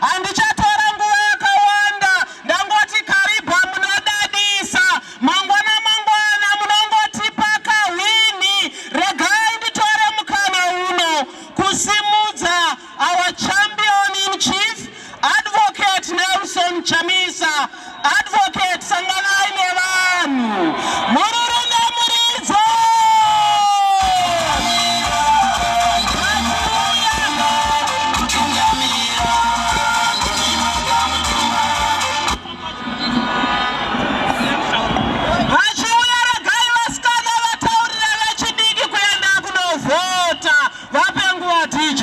Handichatora nguva yakawanda ndangoti karibha munodadisa. Mangwana mangwana munongotipa kahwinhi. Regai nditore mukana uno kusimudza our champion in chief Advocate Nelson Chamisa. Advocate sanganai nevanhu mururume muridzo vachiuya regai vasikana vataurire vechidiki kuenda kunovhota vape nguva dj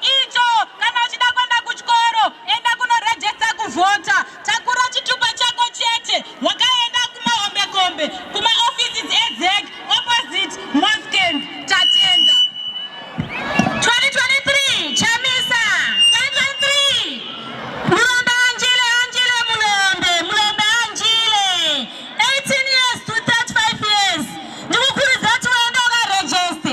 icho kana uchida kuenda kuchikoro enda kunorejesta kuvhota takura chitupa chako chete wakaenda kumahombekombe kumaoffices ezec opposite mosken tatenda 2023 chamisa 2023 mulombe anjile anjile mulombe mulombe anjile 18 years to 35 years ndikukurudzira kuti waenda ukarejeste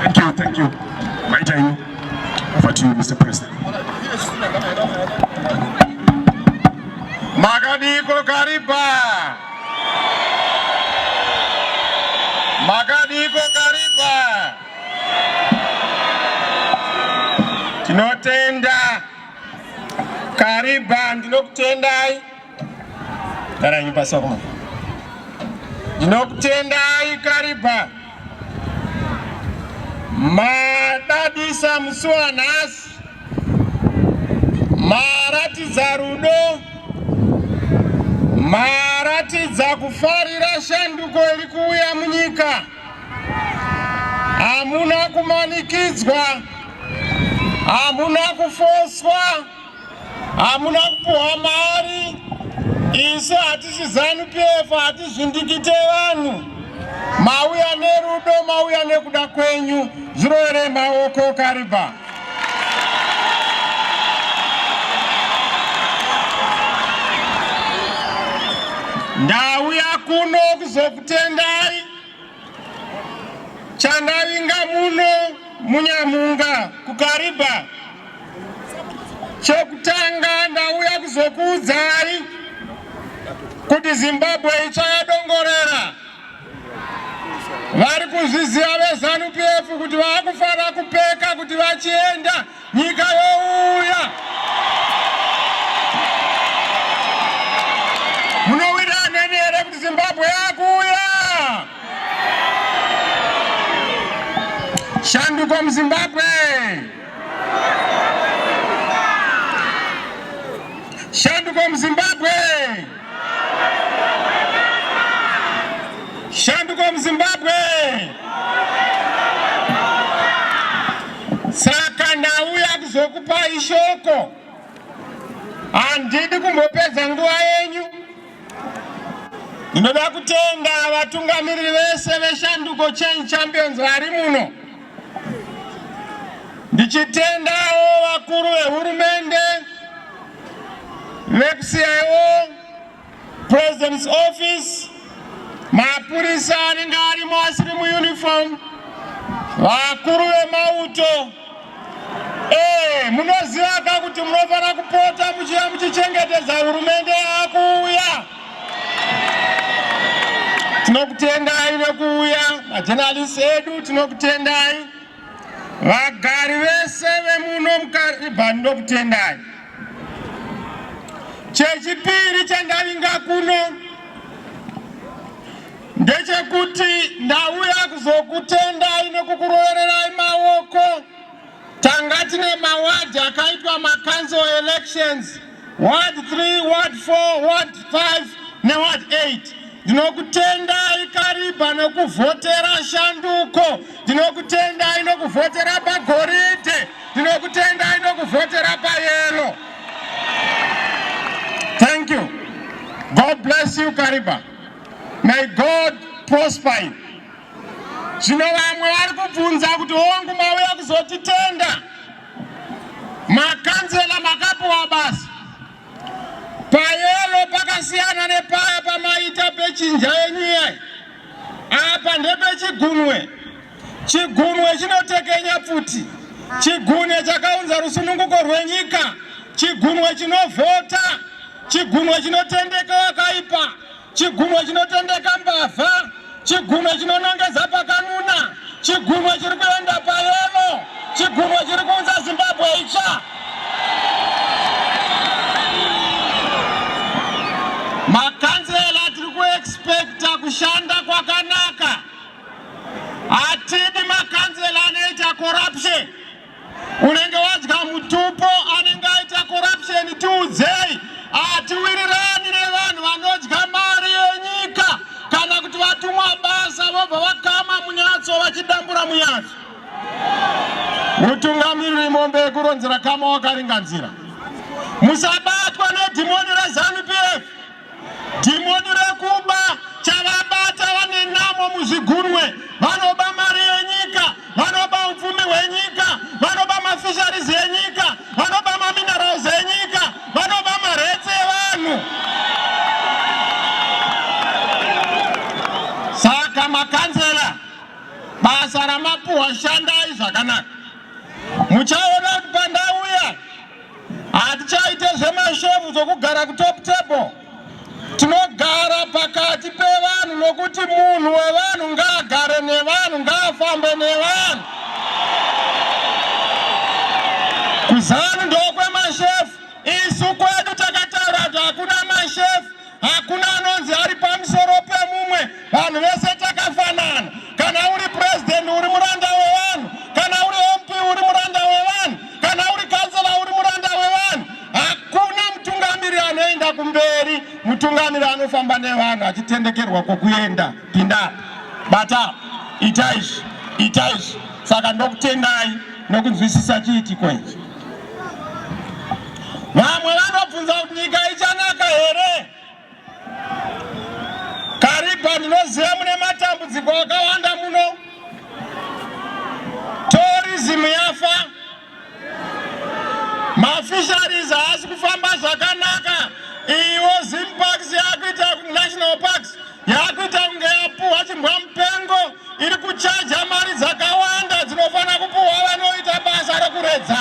Thank you, thank you. Maita you. Over to you, Mr. President. Makadiko kariba. Makadiko kariba. Tinotenda. Kariba, ndinokutendai. Garanyi pasi wakoma. Ndinokutendai Kariba. Madadisa musi wanhasi. Maratidza rudo. Maratidza kufarira shanduko iri kuuya munyika. Hamuna kumanikidzwa. Hamuna kufoswa. hamuna kupuhwa mari isu hatisi zanu pf hatizvindikite vanhu mauya nerudo mauya nekuda kwenyu zviroere maoko kariba ndauya kuno kuzokutendai chandavinga muno munyamunga kukariba chokutanga ndauya kuzokuudzai kuti zimbabwe itsva yadongorera vari kuzviziva vezanu pf kuti vakufanira kupeka kuti vachienda Nyika youya. Munowira neni here kuti Zimbabwe yakuya? Shanduko muZimbabwe. Shanduko muZimbabwe. Shanduko muZimbabwe. Saka ndauya kuzokupai shoko, handidi kumbopedza nguva yenyu. Ndinoda kutenda vatungamiriri vese veShanduko Change Champions vari muno, ndichitendawo vakuru vehurumende vekuCIO, President's Office, mapurisa anenge arimo asiri muuniform, vakuru vemauto ee, munoziva ka kuti munofanira kupota muchiva muchichengetedza hurumende yakuuya. Tinokutendai nekuuya majenalisi edu, tinokutendai. Vagari vese vemuno mukaribhani ndokutendai. Chechipiri chandavinga kuno ndechekuti ndauya kuzokutendai nekukurovererai maoko. Tanga tine mawadhi akaitwa makanzo elections ward 3 ward 4 ward 5 neward 8 ndinokutendai kariba nokuvhotera shanduko ndinokutendai nokuvhotera pagoridhe ndinokutendai nokuvhotera payelo thank you god bless you kariba may god prosper you zvino vamwe vari kubvunza kuti hongu mauya kuzotitenda Makanzela makapuwa basa payero pakasiyana nepaya pamaita pechinja yenyu iyai. Apa ndepechigunwe. Chigunwe chinotekenya pfuti. Chigunwe chakaunza rusununguko rwenyika. Chigunwe chinovhota. Chigunwe chinotendeka wakaipa. Chigunwe chinotendeka mbavha, chigunwe chinonongedza pakanuna, chigunwe chiri kuenda payemo, chigunwe chiri kuunza Zimbabwe itsva. Makanzela tiri kuexpecta kushanda kwakanaka, hatidi makanzela anoita corruption. unenge wadya mutupo anenge aita corruption tiudzei hatiwirirani nevanhu vanodya mari yenyika kana kuti vatumwa basa vobva vakama munyatso vachidambura munyatso mutungamiriri mombe yekuronzera kama wakaringanzira musabatwa nedhimoni rezanu pf Dhimoni rekuba chavabata vane namo muzvigurwe vanoba mari yenyika vanoba upfumi hwenyika vanoba mafisharis enyika vanoba maminerals enyika vanoba maretse evanhu saka makanzela basa ramapuhwa shandai zvakanaka muchaona kuti pandauya Hatichaite zvemashovu zvokugara kutop table. Tinogara pakati pevanhu nokuti munhu wevanhu ngaagare nevanhu, ngaafambe nevanhu. KuZanu ndokwemashefu. Isu kwedu takataura kuti hakuna mashefu. Hakuna anonzi ari pamusoro pemumwe, vanhu vese takafanana. Kana uri president uri muranda wevanhu, kana uri MP uri muranda wevanhu, kana uri kansela uri muranda wevanhu. Hakuna mutungamiri anoenda kumberi, mutungamiri anofamba nevanhu achitendekerwa kwokuenda. Pinda, bata, ita izvi, ita izvi. Saka ndokutendai nokunzwisisa chiitiko ichi. Vamwe vanobvunza kuti nyika ichanaka here? Kariba ndinoziva mune matambudziko akawanda muno. Tourism yafa. Mafisheries haasi kufamba zvakanaka. Iwo Zim Parks yakuita National Parks. yakuita kunge yapuhwa chimbwa mupengo iri kuchaja mari dzakawanda dzinofanira kupuhwa vanoita basa rekuredza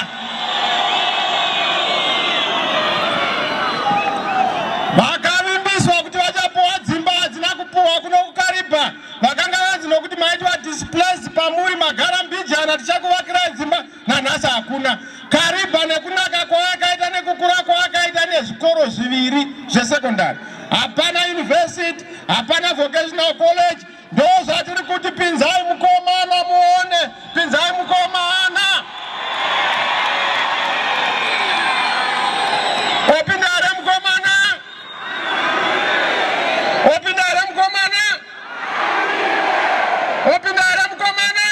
vakavimbiswa kuti vachapuhwa dzimba hadzina kupuhwa kuno kukariba vakanga vanzi nokuti maitwa displace pamuri magara mbijana tichakuvakirai dzimba nanhasi hakuna karibha nekunaka kwaakaita nekukura kwaakaita nezvikoro zviviri zvesekondari hapana university hapana vocational college ndozvatiri kuti pinzai mukomana muone pinzai mukomana Kupinda here mukomana?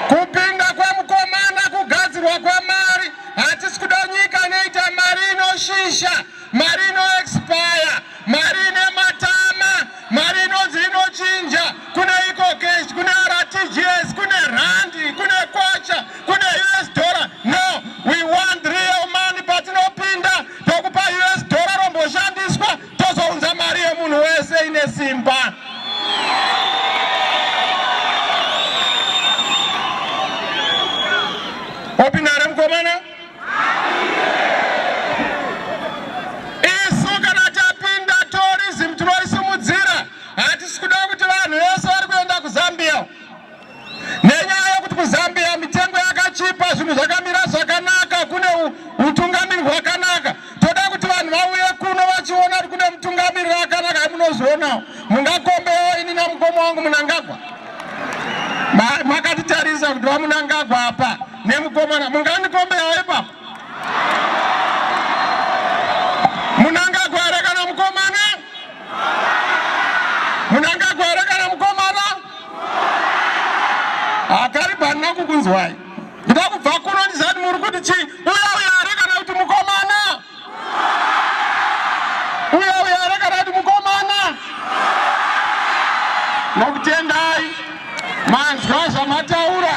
Kupinda kwemukomana kugadzirwa kwemari. Hatisi kuda nyika inoita mari inoshisha, mari inoexpire, mari ine matama, mari inonzi inochinja. Kune ecocash, kune RTGS, kune randi, kune kwacha, kune US dollar. No, we want real money patinopinda tokupa US dollar romboshandiswa tozounza mari yemunhu wese ine simba opindare mukomana isu kana tapinda tourism tinoisimudzira hatisi kuda kuti vanhu vese vari kuenda kuzambia Nenyaya yekuti kuZambia mitengo yakachipa, zvinhu zvakamira zvakanaka, kune utungamiri hwakanaka. Toda kuti vanhu vauye kuno vachiona kuti kune mutungamiri wakanaka amunozoonawo. Mungakombewo ini namukoma wangu Munangagwa. Makatitarisa kuti vaMunangagwa apa nemukomana mungandikombewo ipapo. akaripa handina kukunzwai nda kubva kuno ndizati muri kuti chii uya uya are kana kuti mukomana uya uya are kana kuti mukomana nokutendai manzwa zvamataura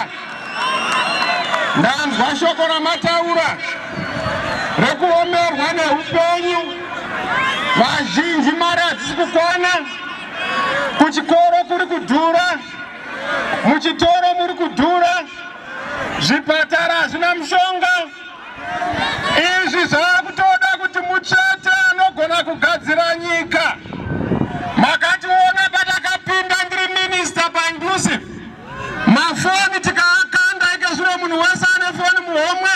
ndanzwa shoko ramataura rekuomerwa neupenyu vazhinji mari hadzisi kukwana Kuchikoro kuri kudhura, muchitoro muri kudhura, zvipatara hazvina mushonga. Izvi zvakutoda kuti muchete anogona kugadzira nyika. Makationa patakapinda ndiri minista paindusive, mafoni tikaakanda ika zvino munhu wese ane foni muhomwe.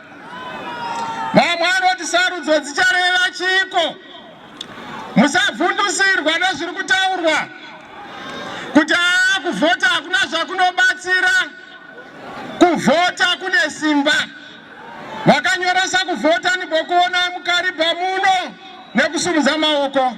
Vamwe vanoti sarudzo dzichareva chiiko? Musavhundusirwa nezviri kutaurwa kuti aa kuvhota hakuna zvakunobatsira. Kuvhota kune simba. Vakanyoresa kuvhota nibokuona mukariba muno nekusumudza maoko.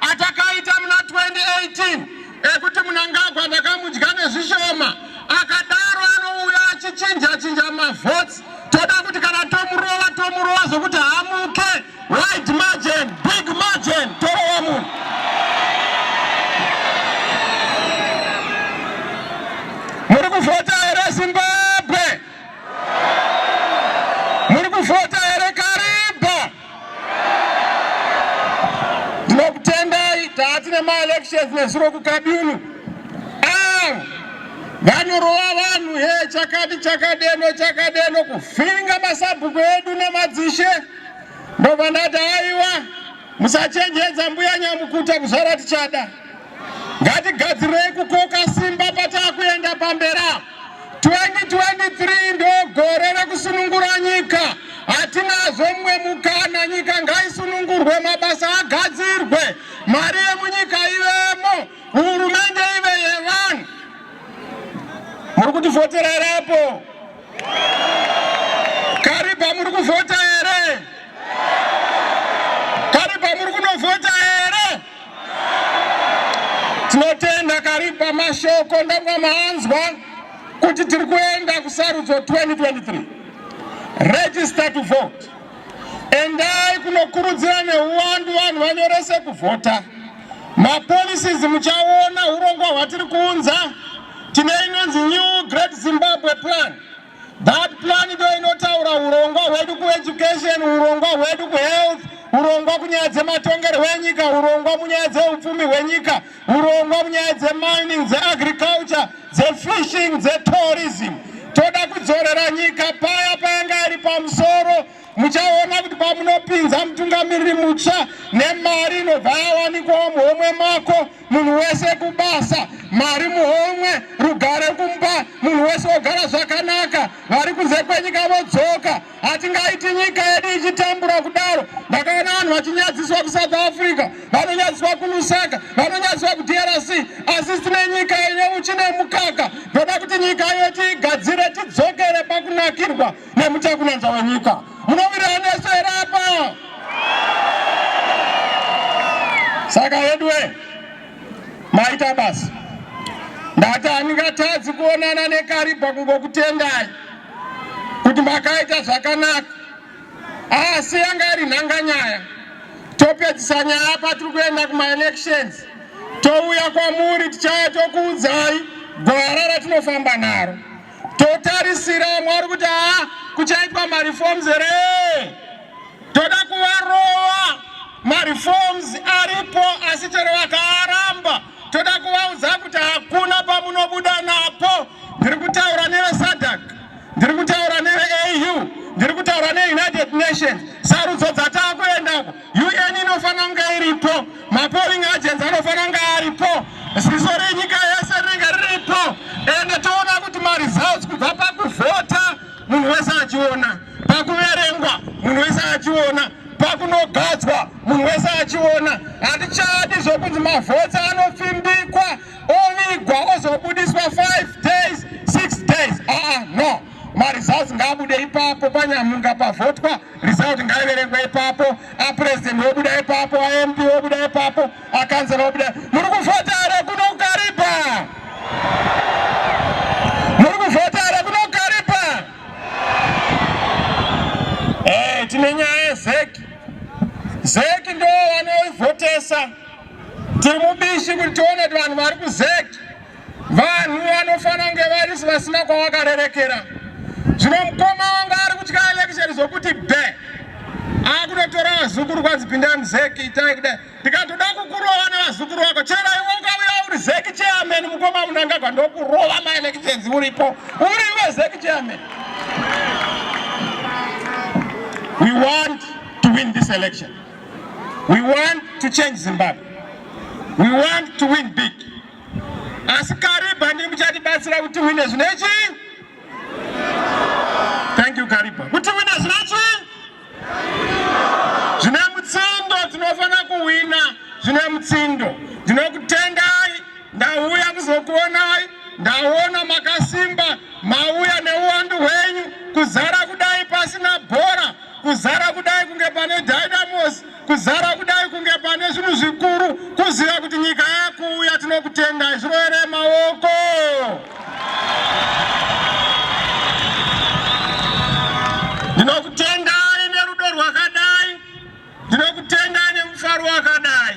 atakaita muna 2018 ekuti munangagwa ndakamudya nezvishoma akadaro anouya achichinja chinja mavhots toda kuti kana tomurova tomurova zvekuti haamuke wide margin big margin torova munhu muri kuvhota here zimbabwe muri kuvhota ndinokutendai taati nemaelections nezuro kukadunu ah, vanorova vanhu he chakati chakadeno chakadeno kuvhiringa masabhuku edu nemadzishe ndobva ndati aiwa musachenjedza mbuya nyamukuta kuzvara tichada ngatigadzirei kukoka simba patakuenda pambera 2023 ndogore rekusunungura nyika hatinazo mumwe mukana nyika ngaisunungurwe mabasa agadzirwe mari yemunyika ivemo hurumende ive yevanhu muri kutivhotera here apo kariba muri kuvhota Tinotenda Karipa mashoko ndanga maanzwa kuti tiri kuenda kusarudzo 2023 register to vote endai kunokurudzira neuwandu vanhu vanyorese kuvhota mapolicies muchaona urongwa hwatiri kuunza tine inonzi new great zimbabwe plan That plan ndo inotaura urongwa hwedu kueducation, urongwa hwedu kuhealth, urongwa kunyaya dzematongerwo enyika, urongwa munyaya dzeupfumi hwenyika, urongwa munyaya dzemining, dzeagriculture, dzefishing, dzetourism. Toda kudzorera nyika paya payanga iri pamusoro. muchaona kuti pamunopinza mutungamiriri mutsva nemari inobva yawanikwawo muhomwe mako munhu wese kubasa mari muhomwe rugare kumba munhu wese wogara zvakanaka vari kunze kwenyika vodzoka hatingaiti nyika yedu ichitambura kudaro ndakaona vanhu vachinyadziswa kusouth africa vanonyadziswa kulusaka vanonyadziswa kudrc asi tine nyika ine uchi nemukaka ndoda kuti nyika yedu igadzire tidzokere pakunakirwa nemuchakunanzva wenyika munowirirana nesu here apa saka veduwe maita basa ndati handingatadzi kuonana nekaribha kungokutendai kuti makaita zvakanaka asi yanga iri nhanganyaya topedzisa nyaya patiri kuenda kumaelections touya kwamuri tichaya tokuudzai gwara ratinofamba naro totarisira vamwe vari kuti haa kuchaitwa mareforms here toda kuvarova mareforms aripo asi chero vakaaramba toda kuvaudza kuti hakuna pamunobuda napo ndiri kutaura nevesadak ndiri kutaura neveau ndiri kutaura neunited nations sarudzo dzatava kuendako UN inofanira kunge iripo, mapolling agents anofanira kunge aripo, ziso renyika yese rinenge riripo, ende toona kuti maresults kubva pakuvhota munhu wese achiona, pakuverengwa munhu wese achiona, pakunogadzwa munhu wese achiona. Hatichadi zvokunzi mavhotsi anopfimbikwa ovigwa ozobudiswa 5 days 6 days. Aa, ah, ah, no. maresults ngaabude ipapo panyamunga pavhotwa result ngaiverengwe ipapo apresident wobuda ipapo amp wobuda ipapo akanzera wobuda muri kuvhota here kuno kukaripa muri kuvhota here kuno kukaripa e tine nyaya yezeki zeki ndo vanoivhotesa tiri mubishi kuti tione kuti vanhu vari kuzeki Vanhu vanofana kunge varisi vasina kwavakarerekera. Zvino mukoma wanga ari kutya elekisheni zvokuti be akunotora vazukuru kwanzi pinda muzeki itai kudai ndikatoda kukurova nevazukuru vako chero iwe ukauya uri zeki chairman mukoma munangagwa ndokurova maelections uripo uri iwe zeki chairman we want to win this election we want to change zimbabwe we want to win big asi kariba ndiri muchatibatsira kuti wine zvine chii thank you kariba kuti wine zvine chii zvine mutsindo tinofanira kuwina zvine mutsindo ndinokutendai ndauya kuzokuonai ndaona makasimba mauya neuwandu hwenyu kuzara kudai pasina bhora kuzara kudai kunge pane dynamos kuzara kudai kunge pane zvinhu zvikuru kuziva kuti nyika yakuuya tinokutenda zviroere maoko ndinokutendai nerudo rwakadai ndinokutendai nemufaro wakadai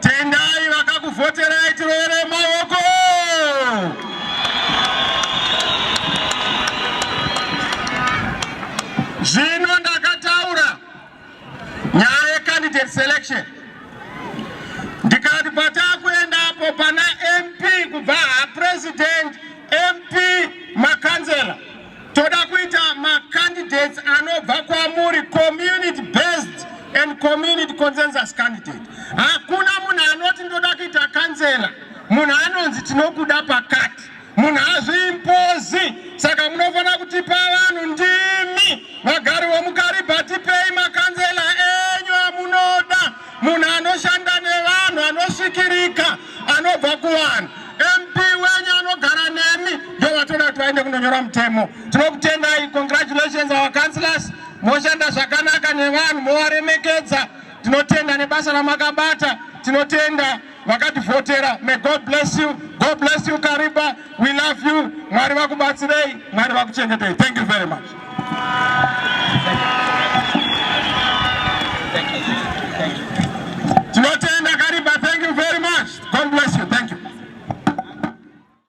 Tendai vakakuvhoterai tiroere maoko. Zvino ndakataura nyaya yecandidate selection ndikati patakuendapo pana MP kubva hapresident MP makanzera Toda kuita macandidates anobva kwamuri community based and community consensus candidate. Hakuna munhu anoti ndoda kuita kansela, munhu anonzi tinokuda pakati, munhu hazviimpozi. Saka munofanira kutipa vanhu ndimi vagari vomukariba, tipei makanzela enyu amunoda. Munhu anoshanda nevanhu anosvikirika anobva kuvanhu. MP wenyu anogara nemi ndovatoda kuti vaende kunonyora mutemo. Tinokutendai, congratulations our councillors. Moshanda zvakanaka nevanhu movaremekedza. Tinotenda nebasa ramakabata. Tinotenda. vakativhotera may god bless you god bless you kariba we love you mwari vakubatsirei mwari vakuchengetei thank you very much